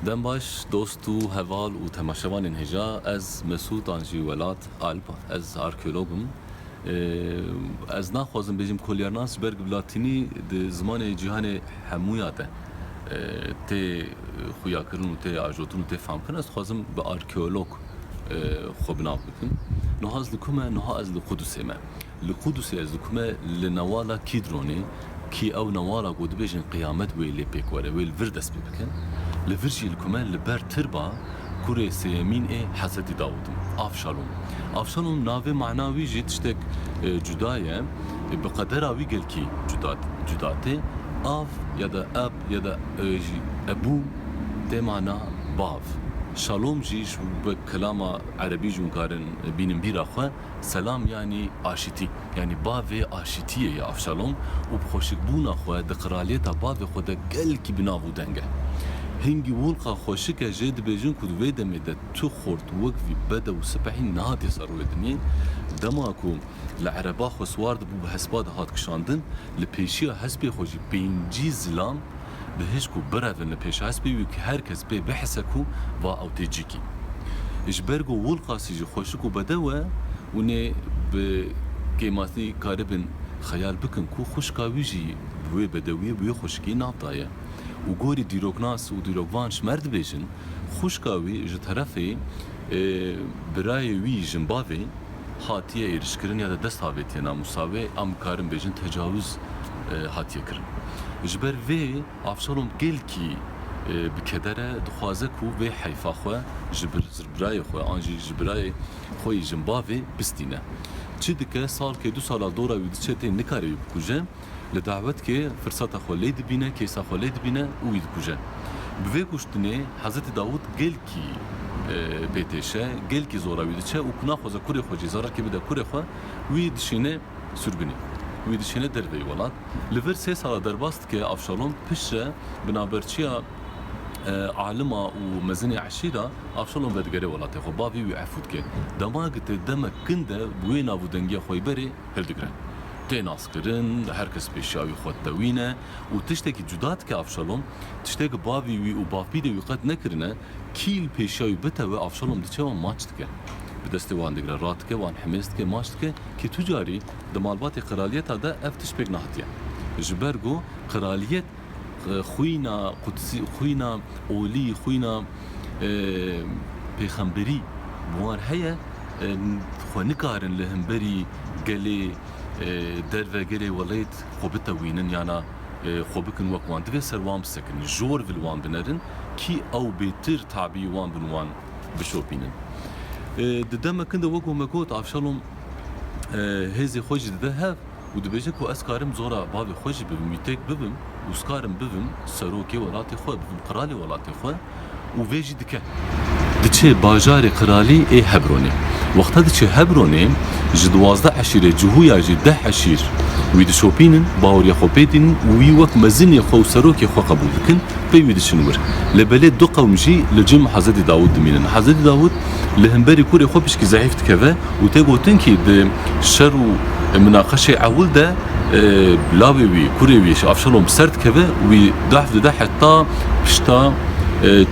Dem baş dost û heval û temaşevanên hêja ez Mesûd an jî welat Alpa ez arkeolog im. Ez naxwazim bêjim kolyarnas ji ber ku latînî di zimanê cîhanê hemûya de tê xuyakirin û tê ajotin û tê famkirin ez dixwazim bi arkeolog xwe bi nav bikin. Nuha ez li ku me? Nuha ez li Qudusê me. Li Qudusê ez li ku me? Li newala Kîdronê kî ew newala ku dibêjin qiyamet wê lê pêk were, wê li vir dest pê bikin. Li vir jî li ku me? Li ber tirba kurê sêyemîn ê Hezretî Dawûd in, Avşalom. Avşalom navê mana wî jî tiştek cuda ye. Bi qedera wî gelkî cuda tê. Av ya da Ab. ya da ew jî Ebû tê mana bav. Şalom jî ji ber kelama erebî ji wan karin bînin bîra xwe. Selam yanî aşitî. Yanî bavê aşitiyê ye Avşalom û bi xweşikbûna xwe di qiraliyeta bavê xwe de gelkî bi nav û deng e. Hingî Wulqa xweşik e jê dibêjin ku di vê demê de tu xort wek vî bede û sipehî nehatî ser wê dinyê. Dema ku li ereba xwe siwar dibû bi hespa dihat kişandin Li pêşiya hespê xwe jî pêncî zilam bi hişk û birevin li pêş hespê wî ku her kes pê bihise ku va ew tê cikî. Ji ber ku Wulqasî jî xweşik û bedew e, hûn ê bi kêmasî karibin xeyal bikin ku xwişka wî jî bi wê bedewiyê, bi wê xweşikiyê nav daye û gorî dîroknas û dîrokvan ji mer dibêjin, xwişka wî ji terefê birayê wî jinbavê, hatiye êrişkirin ya da dest avêtiye namûsa wê am bikarin bêjin tecawûz hatiye kirin. Ji ber vê Avşalom gelkî bi keder e dixwaze ku vê heyfa xwe ji birayê xwe an jî ji birayê xwe yî jin bavê bistîne. Çi dike salkê du sala dora wî diçe tê nikare wî bikuje. Li dawet kê firseta xwe lê dibîne, kêsa xwe lê dibîne û wî dikuje. Bi vê kuştinê Hezretî Dawût gelkî pê têşe, gelkî zora wî diçe û ku naxwaze kurê xwe jî zererkê bide kurê xwe, wî dişîne sûrgunî. Wî dişîne derveyî welat. Li vir sê sala derbas dike Avşalom piştre bi navberçiya alima û mezinê eşîra Avşalom vedigere welatê xwe. Bavê wî efû dike. Dema gite demek kin de bi wê navûdengiya xweyberê hildigirin. Tê naskirin, her kes pê şiya wî xwe ditewîne û tiştekî cuda dike Avşalom, tiştê ku bavê wî û bavpîrê wî qet nekirine, kîl pê şiya wî bitewe, Avşalom diçe wan maç dike. Bi destê wan digre, radike, wan himêz dike, maç dike kî tu carî di malbatê qiraliyeta de ev tişt pêk nehatiye. Ji ber ku qiraliyet. Xwîna Qudsî, xwîna olî, xwîna pêxemberî bi wan heye, xwe nikarin li hemberî gelê derve, gelê welêt xwe bitewînin yana xwe bikin wek wan. Divê ser wan bisekin, jor vil wan binerin kî ew bêtir tabî wan bin wan bişopînin. Di demekin de wek ku me got Avşalom hêzê xwe jî dide hev. û dibêje ku ez karim zora bavê xwe jî bibim, wî têk bibim û skarim bibim serokê welatê xwe, bibim qiralê welatê xwe û vê jî dike. Diçe bajarê qiralî ê Hebronê. Wexta diçe Hebronê, ji duwazdeh eşîrê Cihûya jî deh eşîr wî dişopînin, baweriya xwe pê tînin û wî wek mezinê xwe û serokê xwe qebûl dikin, pey wî diçin wir. Lê belê du qewm jî li cem Hezretî Dawûd dimînin. Hezretî Dawûd li himberî kurê xwe pişkî zehîf dikeve. û tê gotin kî di şer û minaqeşê ewil de lavê wî, kurê wî Avşalom ser dikeve û wî dahf dide heta pişta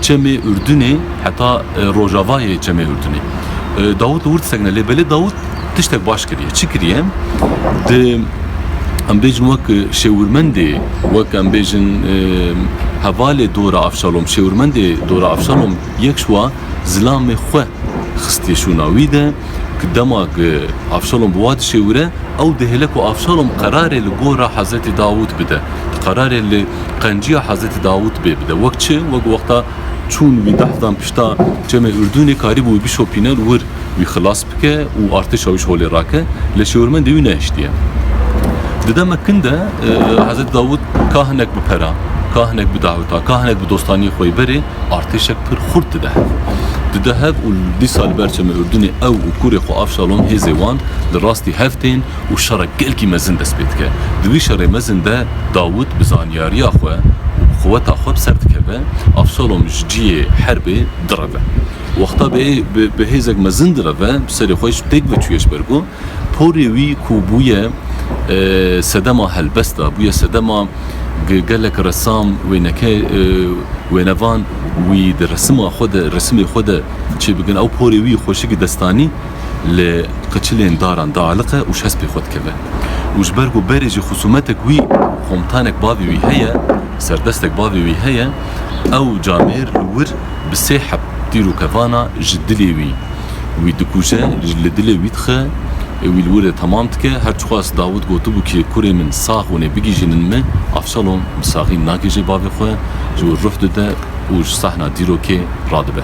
çemê Urdunê, heta rojavayê çemê Urdunê. Dawut li wir disekine lê belê Dawut tiştek baş kiriye. Çi kiriye? Di em bêjin wek şêwirmendê, wek em bêjin hevalê dora Avşalom, şêwirmendê dora Avşalom yek şiwa zilamê xwe xistiye şûna wî de ku dema ku Avşalom bi wa dişêwire ew dihêle ku Avşalom qerarê li gora Hezretê Dawûd bide, qerarê li qenciya Hezretê Dawûd bê bide. Wek çi? Wek wexta çûn wî deh dan pişta çemê Urdûnê karîbû wî bişopîne li wir, wî xilas bike û artêşa wî ji holê rake, lê şêwirmendê wî nehiştiye. Di demek kin de Hezretê Dawûd ka hinek bi pera, ka hinek bi daweta, ka hinek bi dostaniyê xwe yê berê, artêşek pir xurt dide hev. Dide hev û li dîsa li ber çemê Urdunê ew û kurê xwe Avşalom hêzê wan li rastî hev tên û şerek gelkî mezin dest pê dike. Di vî şerê mezin de Dawit bi zanyariya xwe û bi quweta xwe bi ser dikeve, Avşalom ji ciyê herbê direve. Wexta bi hêzek mezin direve, bi serê xwe ji pêk ve çûye ji ber ku, Porê wî ku bûye sedema helbest e, bûye sedema gelek resam wêneke wênevan wî di resima xwe de resimê xwe de çêbikin ew porê wî xweşikî destanî li qiçilên daran dialiqe û şes pê xwe dikeve. Û ji ber ku berê jî xusûmetek wî komtanek bavê wî heye, serdestek bavê wî heye, ew camêr li wir bi sê heb tîrokevana ji dilê wî wî dikuje, li dilê wî dixe, wî li wir de temam dike. Her çiqas Dawit gotibû kê kurê min sax wine bigihîjînin min, Avşalom bi saxî nagihîje bavê xwe, ji wir ruh dide û ji sahna dîrokê radibe.